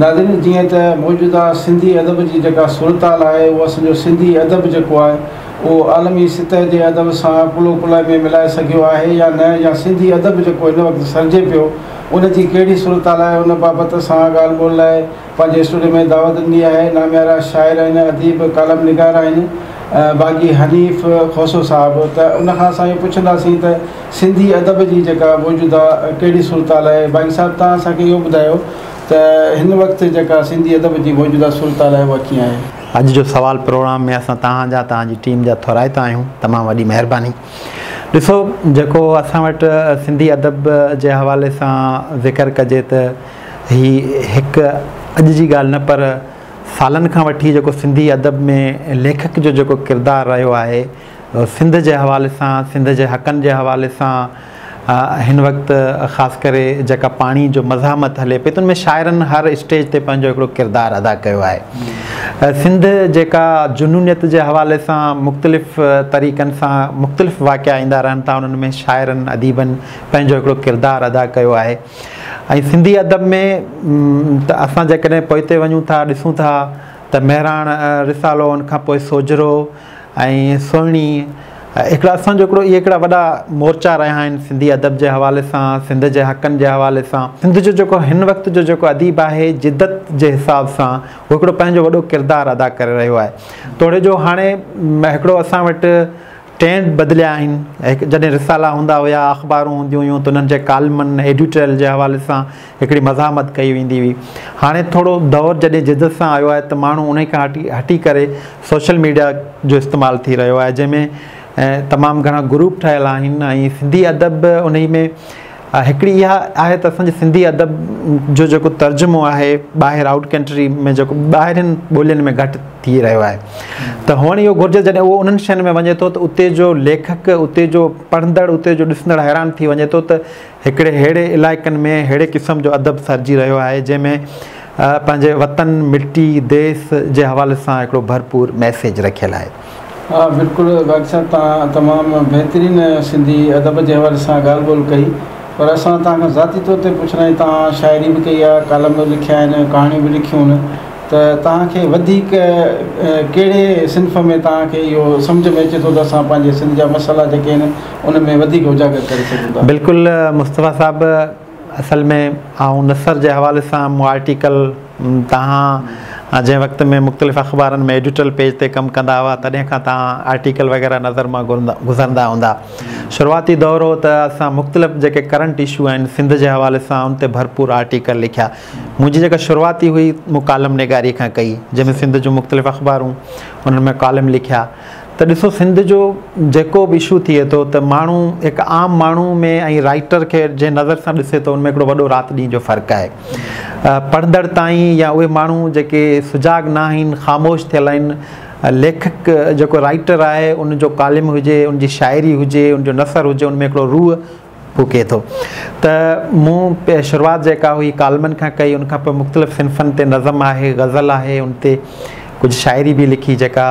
ناظرين جيئن ته موجوده سنڌي ادب جي جيڪا صورتحال آهي اهو اسان جو سنڌي ادب جيڪو آهي اهو عالمي سطح جي ادب سان ڪلهو ڪلهي ۾ ملائي سگهيو آهي يا نه يا سنڌي ادب جيڪو هن وقت سرجي پيو ان جي ڪهڙي صورتحال آهي ان بابت اسان ڳالهه ٻولهه لاء پنهنجي اسٽوڊيو ۾ دعوت ڏني آهي ناميارا شاعر آهن اديب ڪالم نگار آهن باغي حنيف کوسو صاحب ته ان کان اسان اهو پڇنداسين ته سنڌي ادب جي جيڪا موجوده ڪهڙي صورتحال آهي باقي صاحب توهان اسان کي اهو ٻڌايو ته هن وقت جيڪا سنڌي ادب جي موجوده صورتحال آهي اها ڪيئن آهي. اڄ جو سوال پروگرام ۾ اسان توهان جا توهان جي ٽيم جا ٿورائتا آهيون تمام وڏي مهرباني ڏسو جيڪو اسان وٽ سنڌي ادب جي حوالي سان ذڪر ڪجي ته هي هڪ اڄ جي ڳالهه نه پر سالن کان وٺي جيڪو سنڌي ادب ۾ ليکڪ جو جيڪو ڪردار رهيو آهي سنڌ جي حوالي سان سنڌ جي حقن جي حوالي سان هن وقت خاص ڪري جيڪا پاڻي جو مزاحمت هلي پئي ته ان ۾ شاعرن هر اسٽيج تي پنهنجو هڪڙو ڪردار ادا ڪيو آهي سنڌ جيڪا جنونيت جي حوالي سان مختلف طريقن سان مختلف واقعا ايندا رهن ٿا انهن ۾ شاعرن اديبن پنهنجو هڪڙو ڪردار ادا ڪيو آهي ۽ سنڌي ادب ۾ ته اسان جيڪڏهن پوئتي وڃون ٿا ڏسون ٿا ته مهراڻ رسالو ان کان پوء سوجهرو ۽ سهڻي هڪڙا اسان جو هڪڙو اهي هڪڙا وڏا مورچا رهيا آهن سنڌي ادب جي حوالي سان سنڌ جي حقن جي حوالي سان سنڌ جو جيڪو هن وقت جو جيڪو اديب آهي جدت جي حساب سان هو هڪڙو پنهنجو وڏو ڪردار ادا ڪري رهيو آهي توڙي جو هاڻي هڪڙو اسان وٽ ٽرينڊ بدليا آهن جڏهن رسالا هوندا هيا اخبارون هونديون هيون ته انهن جي ڪالمن ايڊيوٽرل جي حوالي سان هڪڙي مزاحمت ڪئي ويندي هئي هاڻي ٿورو دور جڏهن جدت سان آيو آهي ته ماڻهو انهي کان هٽي هٽي ڪري سوشل ميڊيا جو استعمال ٿي رهيو آهي جنهن ۾ تمام گهڻا گروپ ٺهيل آهن ۽ سنڌي ادب به انهي ۾ هڪڙي اها آهي ته اسان جي سنڌي ادب جو جيڪو ترجمو آهي ٻاهر آئوٽ ڪنٽري ۾ جيڪو ٻاهرين ٻولين ۾ گهٽ ٿي رهيو آهي ته هئڻ اهو گهرجي جڏهن اهو انهن شين ۾ وڃي ٿو ته اتي جو ليکڪ اتي جو پڙهندڙ اتي جو ڏسندڙ حيران ٿي وڃي ٿو ته هڪڙي ههڙي علائقن ۾ ههڙي قسم جو ادب سرجي رهيو آهي جنهن ۾ پنهنجي وطن، مٽي، ديس جي حوالي سان هڪڙو ڀرپور ميسيج رکيل آهي. ها بلڪل واجد صاحب توهان تمام بهترين سنڌي ادب جي حوالي سان ڳالهه ٻولهه ڪئي پر اسان توهان کان ذاتي طور تي پڇڻ آهي توهان شاعري به ڪئي آهي ڪالم به لکيا آهن ڪهاڻيون به لکيون آهن ته توهان کي وڌيڪ ڪهڙي صنف ۾ توهان کي اهو سمجهه ۾ اچي ٿو ته اسان پنهنجي سنڌ جا مسئلا جيڪي آهن ان ۾ وڌيڪ اجاگر ڪري سگهون ٿا. بلڪل مصطفيٰ صاحب اصل ۾ آئون نثر جي حوالي سان مون آرٽيڪل توهان جنهن وقت ۾ مختلف اخبارن ۾ ايڊيٽرل پيج تي ڪم ڪندا هئا تڏهن کان توهان آرٽيڪل وغيره نظر مان گذرندا هوندا شروعاتي دور هو ته اسان مختلف جيڪي ڪرنٽ اشو آهن سنڌ جي حوالي سان ان تي ڀرپور آرٽيڪل لکيا منهنجي جيڪا شروعاتي هئي مون ڪالم نگاري کان ڪئي جنهن ۾ سنڌ جون مختلف اخبارون انهن ۾ ڪالم لکيا ته ڏسو سنڌ جو جيڪو به اشو ٿئي ٿو ته ماڻهو هڪ عام ماڻهو ۾ ۽ رائيٽر کي جنهن نظر سان ڏسي ٿو ان ۾ هڪڙو وڏو رات ڏينهن جو فرق آهي پڙهندڙ تائين يا اهي ماڻهو جيڪي سجاڳ نه آهن خاموش ٿيل آهن ليکڪ جيڪو رائيٽر آهي ان جو ڪالم هجي ان جي شاعري هجي ان جو نثر هجي ان ۾ هڪڙو روح ڦوڪي ٿو ته مون شروعات جيڪا هئي ڪالمن کان ڪئي ان کان پوء مختلف صنفن تي نظم آهي غزل آهي ان تي ڪجهه شاعري به لکي جيڪا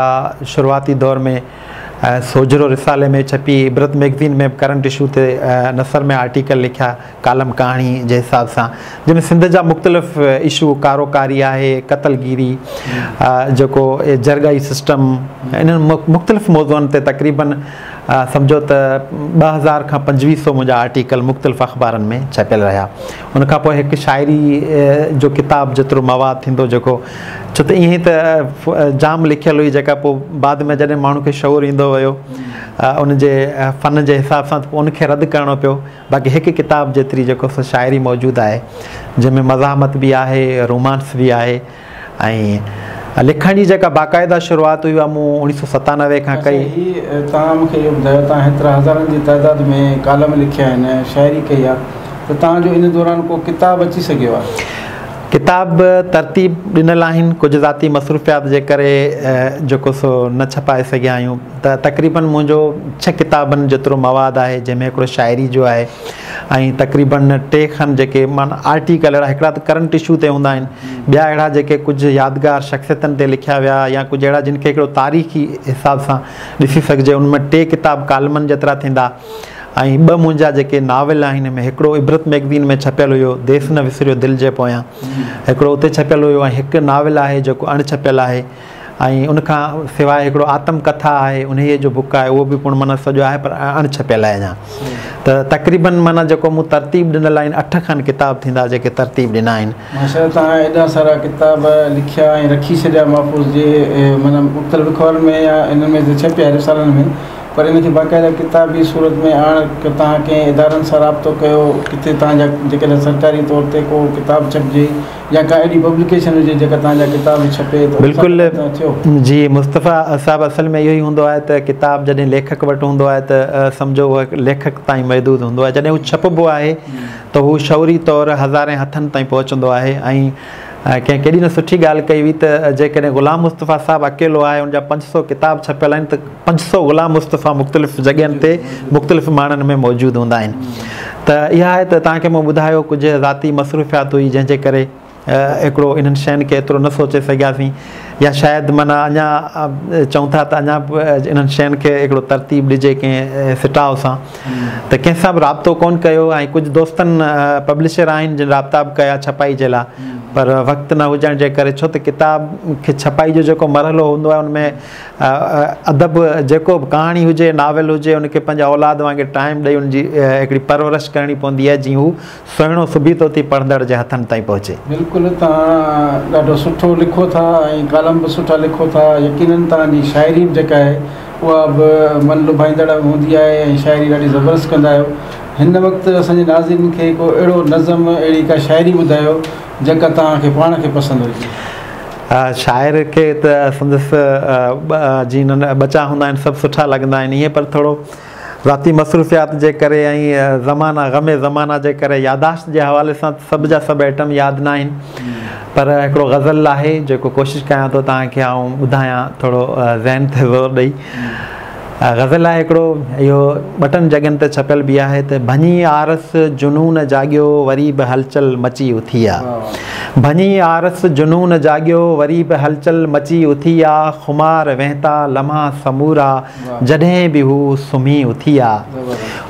شروعاتي دور ۾ سوجهرو رسالي ۾ ڇپي عبرت ميگزين ۾ ڪرنٽ اشو تي نثر ۾ آرٽيڪل لکيا ڪالم ڪهاڻي جي حساب سان جنهن ۾ سنڌ جا مختلف اشو ڪارو ڪاري آهي قتل گيري جيڪو جرگائي سسٽم انهن مختلف موضوعن تي تقريبن سمجهو ته ٻه هزار کان پنجويهه سئو منهنجا آرٽيڪل مختلف اخبارن ۾ ڇپيل رهيا. ان کان پوء هڪ شاعري جو ڪتاب جيترو مواد ٿيندو جيڪو ڇو ته ائين ته جام لکيل هئي جيڪا پوء بعد ۾ جڏهن ماڻهو کي شعور ايندو ويو ان جي فن جي حساب سان ته پوء ان کي رد ڪرڻو پيو باقي هڪ ڪتاب جيتري جيڪو سو شاعري موجود آهي جنهن ۾ مزاحمت به آهي رومانس به آهي ۽ لکڻ جي جيڪا باقاعده شروعات هئي اها مون اوڻيهه سؤ ستانوي کان ڪئي. اچا هي توهان مون کي اهو ٻڌايو توهان هيترا هزارن جي تعداد ۾ ڪالم لکيا آهن ۽ شاعري ڪئي آهي ته توهان جو ان دوران ڪو ڪتاب اچي سگهيو آهي؟ ڪتاب به ترتيب ڏنل آهن ڪجهه ذاتي مصروفيات جي ڪري جيڪو سو نه ڇپائي سگهيا آهيون ته تقريبن منهنجو ڇهه ڪتابن جيترو مواد آهي جنهن ۾ هڪڙو شاعري جو آهي ائين تقريبن ٽي کن جيڪي من آرٽيڪل اهڙا هڪڙا ته ڪرنٽ اشو تي هوندا آهن ٻيا اهڙا جيڪي ڪجهه يادگار شخصيتن تي لکيا ويا يا ڪجهه اهڙا جن کي هڪڙو تاريخي حساب سان ڏسي سگهجي ان ۾ ٽي ڪتاب ڪالمن جيترا ٿيندا ۽ ٻه منهنجا جيڪي ناول آهن ان ۾ هڪڙو عبرت ميگزين ۾ ڇپيل هيو ديس نه وسريو دل جي پويان هڪڙو اتي ڇپيل هيو ۽ هڪ ناول آهي جيڪو اڻ ڇپيل آهي ۽ ان کان سواء هڪڙو آتم ڪٿا آهي انهيء جو بڪ آهي اهو به پڻ معنيٰ سڄو آهي پر اڻ ڇپيل آهي اڃا ته تقريباً معنيٰ جيڪو مون ترتيب ڏنل آهن اٺ کن ڪتاب ٿيندا جيڪي ترتيب ڏنا آهن. ماشاء الله توهان ايڏا سارا ڪتاب لکيا ۽ رکي ڇڏيا محفوظ جي معنيٰ مختلف اخبارن ۾ يا انهن ۾ ته ڇپيا رسالن ۾ پر ان کي باقاعده ڪتابي صورت ۾ آڻڻ توهان ڪنهن ادارن سان رابطو ڪيو ڪٿي توهان جا جيڪڏهن سرڪاري طور تي ڪو ڪتاب ڇپجي يا ڪا اهڙي پبليڪيشن هجي جيڪا توهان جا ڪتاب به ڇپي ته ان سان ڪڏهن ته ٿيو. جي مصطفيٰ صاحب اصل ۾ اهو ئي هوندو آهي ته ڪتاب جڏهن ليکڪ وٽ هوندو آهي ته سمجهو اهو ليکڪ تائين محدود هوندو آهي جڏهن هو ڇپبو آهي ته هو شعوري طور هزارين هٿن تائين پهچندو آهي ۽ ڪنهن ڪيڏي نه سٺي ڳالهه ڪئي هئي ته جيڪڏهن غلام مصطفيٰ صاحب اڪيلو آهي ان جا پنج سؤ ڪتاب ڇپيل آهن ته پنج سؤ غلام مصطفيٰ مختلف جڳهين تي مختلف ماڻن ۾ موجود هوندا آهن ته اها آهي ته تهان کي مون ٻڌايو ڪجهه ذاتي مصروفيات هئي جنهن جي ڪري هڪڙو انهن شين کي ايترو نه سوچي سگهياسين يا شايد معنيٰ اڃا چئون ٿا ته اڃا به انهن شين کي هڪڙو ترتيب ڏجي ڪنهن سٽاء سان ته ڪنهن سان به رابطو ڪون ڪيو ۽ ڪجهه دوستن پبلشر آهن جن رابطا به ڪيا ڇپائي جي لاء پر وقت نه هجڻ جي ڪري ڇو ته ڪتاب کي ڇپائي جو جيڪو مرحلو هوندو آهي ان ۾ ادب جيڪو به ڪهاڻي هجي ناول هجي ان کي پنهنجي اولاد وانگر ٽائيم ڏئي ان جي هڪڙي پرورش ڪرڻي پوندي آهي جيئن هو سهڻو سبيتو ٿي پڙهندڙ جي هٿن تائين پهچي. بلڪل توهان ڏاڍو سٺو لکو ٿا ۽ ڪالم به سٺا لکو ٿا يقينن توهان جي شاعري به جيڪا آهي اها به من لڀائيندڙ هوندي آهي ۽ شاعري ڏاڍي زبردست ڪندا آهيو هن وقت اسان جي ناظرين کي ڪو اهڙو نظم اهڙي ڪا شاعري ٻڌايو جيڪا توهان کي پاڻ کي پسند هجي. شاعر کي ته سندس جي ننهن ٻچا هوندا آهن سڀ سٺا لڳندا آهن ائين پر ٿورو ذاتي مصروفيات جي ڪري ۽ زمانا غم زمانا جي ڪري ياداشت جي حوالي سان سڀ جا سڀ ائٽم ياد نه آهن پر هڪڙو غزل آهي جيڪو ڪوشش ڪيان ٿو توهان کي آئون ٻڌايان ٿورو ذهن تي زور ڏئي غزل آهي هڪڙو اهو ٻٽن جڳهين تي ڇپيل به آهي ته ڀڃي آرس جنون جاڳيو وري به هلچل مچي اٿي آ ڀڃي آرس جنون جاڳيو وري به هلچل مچي اٿي آ خمار وهنتا لمحا سمورا جڏهن به هو سمهي اٿي آ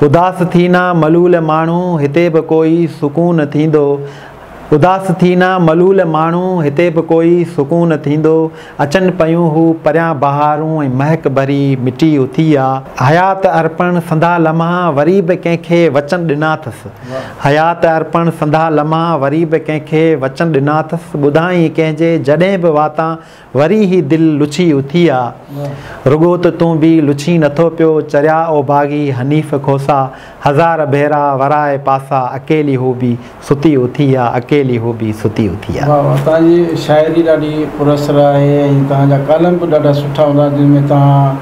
اداس ٿينا ملول ماڻهو هتي به ڪوئي سڪون ٿيندو اداس ٿي نه ملول ماڻهو هتي به ڪوئي سڪون ٿيندو. اچن پيون هو پريان بهارون ۽ مهڪ ڀري مٽي اٿي آ. حيات ارپڻ سنڌا لمحا وري به ڪنهن کي وچن ڏنا اٿس. حيات ارپڻ سنڌا لمحا وري به ڪنهن کي وچن ڏنا اٿس. ٻڌائين ڪنهن جي جڏهن به واتان وري هي دل لڇي اٿي آ. رڳو ته تون به لڇين نٿو پيو چريا او باغي حنيف کوسا هزار ڀيرا ورائي پاسا اڪيلي هو به ستي اٿي آ اڪيلي هو به ستي اٿي آ. واھ واھ توهان جي شاعري ڏاڍي پر اثر آهي ۽ توهان جا ڪالم به ڏاڍا سٺا هوندا آهن جن ۾ توهان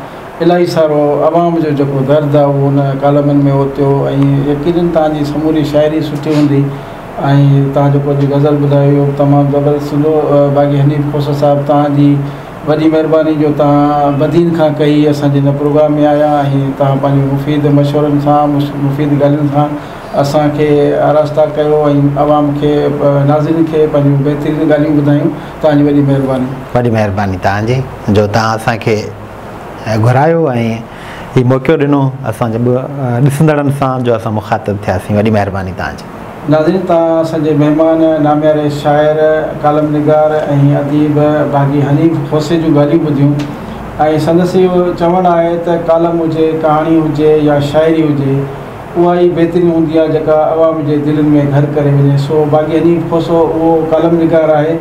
الاهي سارو عوام جو جيڪو درد آهي اهو ان ڪالمن ۾ اوتيو ۽ يقينن توهان جي سموري شاعري سٺي هوندي ۽ توهان جيڪو اڄ غزل ٻڌائي اهو به تمام زبردست هوندو باقي حنيف کوسو صاحب توهان جي وڏي مهرباني جو توهان بدين کان ڪهي اسان جي هن پروگرام ۾ آيا ۽ توهان پنهنجي مفيد مشورن سان مفيد ڳالهين سان اسان کي آراسته ڪيو ۽ عوام کي ناظرين کي پنهنجون بهترين ڳالهيون ٻڌايون توهان جي وڏي مهرباني. وڏي مهرباني توهان جي جو توهان اسان کي گهرايو ۽ هي موقعو ڏنو اسان جي ڏسندڙن سان جو اسان مخاطب ٿياسين وڏي مهرباني توهان جي. ناظرين تان اسان جي مهمان نامياري شاعر، ڪالم نگار ۽ اديب باغي حنيف کوسي جون ڳالهيون ٻڌيون ۽ سندس اهو چوڻ آهي ته ڪالم هجي، ڪهاڻي هجي يا شاعري هجي اها ئي بهترين هوندي آهي جيڪا عوام جي دلين ۾ گهر ڪري وڃي سو باغي حنيف کوسو اهو ڪالم نگار آهي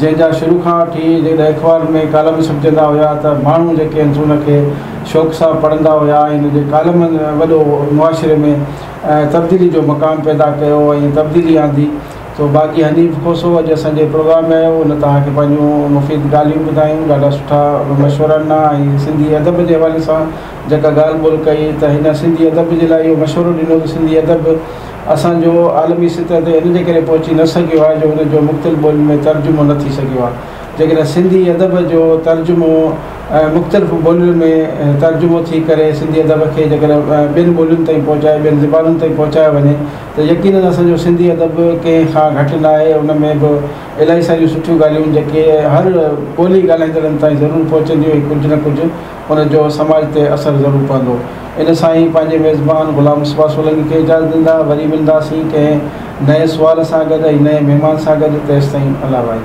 جنهن جا شروع کان وٺي جڏهن اخبارن ۾ ڪالم ڇپجندا هيا ته ماڻهو جيڪي آهن سو ان کي شوق سان پڙهندا هيا ۽ ان جي ڪالمن وڏو معاشري ۾ تبديلي جو مقام پيدا ڪيو ۽ تبديلي آندي تو باقي حنيف کوسو اڄ اسان جي پروگرام ۾ آيو ان توهان کي پنهنجون مفيد ڳالهيون ٻڌايون ڏاڍا سٺا مشورا ڏنا ۽ سنڌي ادب جي حوالي سان جيڪا ڳالهه ٻولهه ڪئي ته هن سنڌي ادب جي لاء اهو مشورو ڏنو ته سنڌي ادب اسان جو عالمي سطح تي ان جي ڪري پهچي نه سگهيو آهي جو ان جو مختلف ٻولين ۾ ترجمو نه ٿي سگهيو آهي جيڪڏهن سنڌي ادب جو ترجمو مختلف ٻولين ۾ ترجمو ٿي ڪري سنڌي ادب کي جيڪڏهن ٻين ٻولين تائين پهچائي ٻين زبانن تائين پهچايو وڃي ته يقينن اسان جو سنڌي ادب ڪنهن کان گهٽ نه آهي ان ۾ به الاهي ساريون سٺيون ڳالهيون آهن جيڪي هر ٻولي ڳالهائيندڙن تائين ضرور پهچنديون ۽ ڪجهه نه ڪجهه ان جو سماج تي اثر ضرور پوندو ان سان ئي پنهنجي ميزبان غلام مصباح سولنگي کي اجازت ڏيندا وري ملنداسين ڪنهن نئين سوال سان گڏ ۽ نئين مهمان سان گڏ تيستائين الله وائي.